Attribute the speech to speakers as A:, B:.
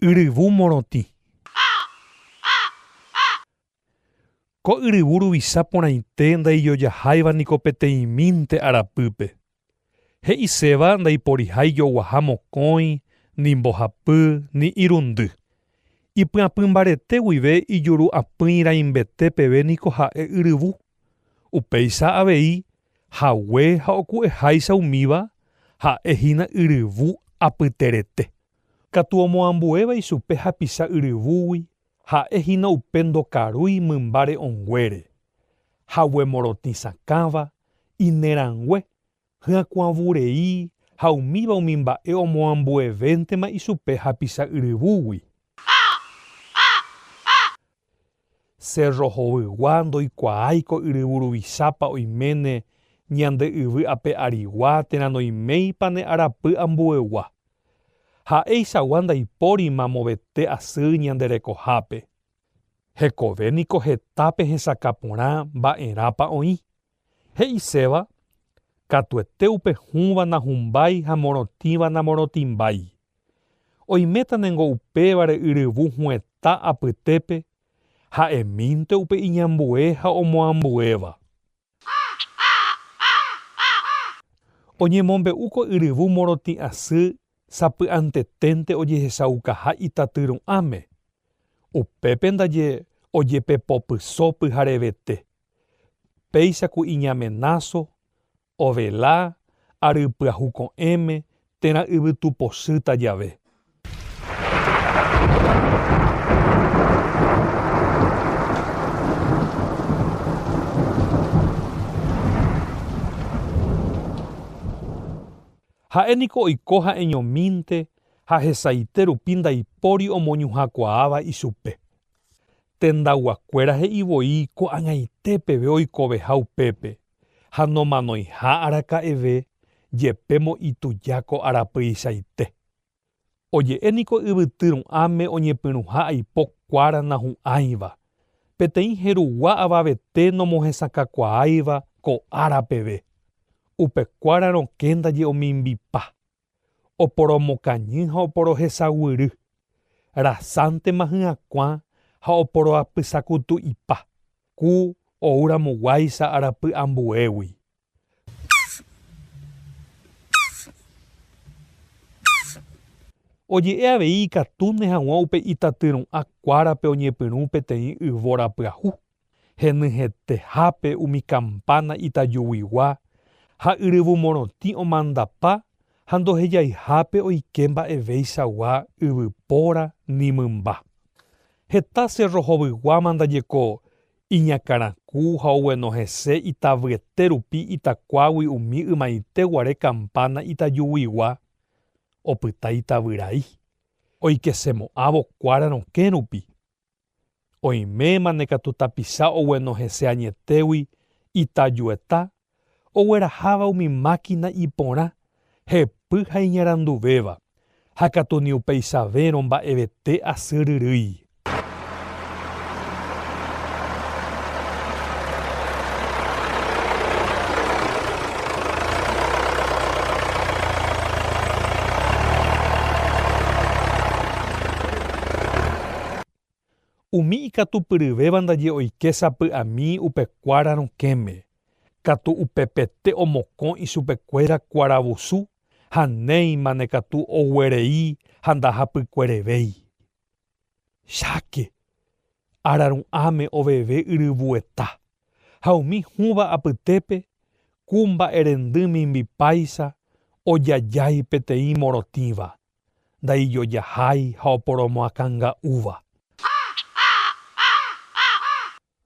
A: Yryvu morotĩ. Ko yryvu ruvicha porãite ndaijojaháiva niko peteĩmínte arapýpe. He'iséva ndaiporihái joguaha mokõi, ni mbohapy, ni irundy. Ipyapy mbarete guive ijuru apỹi raimbete peve niko ha'e yryvu. Upéicha avei hague ha oku'eháicha umíva ha'e hína yryvu apyterete. Katu omoambuéva ichupe hapicha yryvúgui ha'e hína upe ndokarúi mymba re'õnguére, hague morotĩ sakãva, inerãngue, hyakuãvu rei ha umíva umi mba'e omoambuevéntema ichupe hapicha yryvúgui. Sérro hovyigua ndoikuaái ko yryvu ruvichápa oiméne ñande yvy ape arigua térã noiméipa ne arapy ambuegua. Ha'eichagua ndaipórima movete asy ñande rekohápe. Hekove niko heta pehesakã porã mba'erãpa oĩ. He'iséva, katuete upe hũva nahumbái ha morotĩva namorotĩmbái. Oiméta ningo upévare yryvu huetã apytépe, ha'emínte upe iñambue ha omoambuéva. Oñemombe'úko yryvu morotĩ'asy sapy'anteténte ojehechaukaha itaty ru'ãme, upépe ndaje ojepepopyso pyharevete. Péicha ku iñamenáso, ovela, ary pyahu ko'ẽme, térã yvytu pochýta jave. Ha'e niko oiko ha'eñomínte ha hesaite rupi ndaipóri omoñuhãkuaáva ichupe. Tendaguakuéra he'i voi ko'ag̃aite peve oikoveha upépe, ha nomanoiha araka'eve jepémo ituja ko arapyichaite. Oje'e niko yvyty ru'ãme oñepyrũha aipo kuára nahu'ãiva, peteĩ herugua avavete nomohesakãkuaáiva ko ára peve, upe kuára rokẽ ndaje omimbipa. oporomokañy ha oporohesaguýry, rasántema hyakuã ha oporoapysakutu'ipa, ku ou ramo guáicha arapy ambuégui. Oje'e avei ikatúne hag̃ua upe itatyru'ã kuárape oñepyrũ peteĩ yvóra pyahu. henyhẽtehápe umi kampána itajuguigua ha yryvu morotĩ omandapa ha ndohejaihápe oike mba'eveichagua yvypóra ni mymba. Heta sérro hovyguáma ndaje ko iñakãraku ha ogueno hese itavyete rupi itakuágui umi ymaite guare kampána itajuguigua opyta itavyrái oikesemo'ãvo kuára rokẽ rupi. Oiméma ne katu tapicha ogueno hese añetégui itajueta ogueraháva umi mákina iporã, hepy ha iñaranduvéva, ha katu ni upeichavérõ mba'evete asy ryrýi. Umi ikatupyryvéva ndaje oike sapy'ami upe kuára rokẽme, katu upepete omokõ ichupekuéra kuaravusu ha néimane katu oguerei ha ndahapykuerevéi. Cháke, araru'ãme oveve yryvueta, ha umi hũva apytépe ku mba'erendy mimbipáicha ojajái peteĩ morotĩva. ndaijojahái ha oporomoakãnga'úva.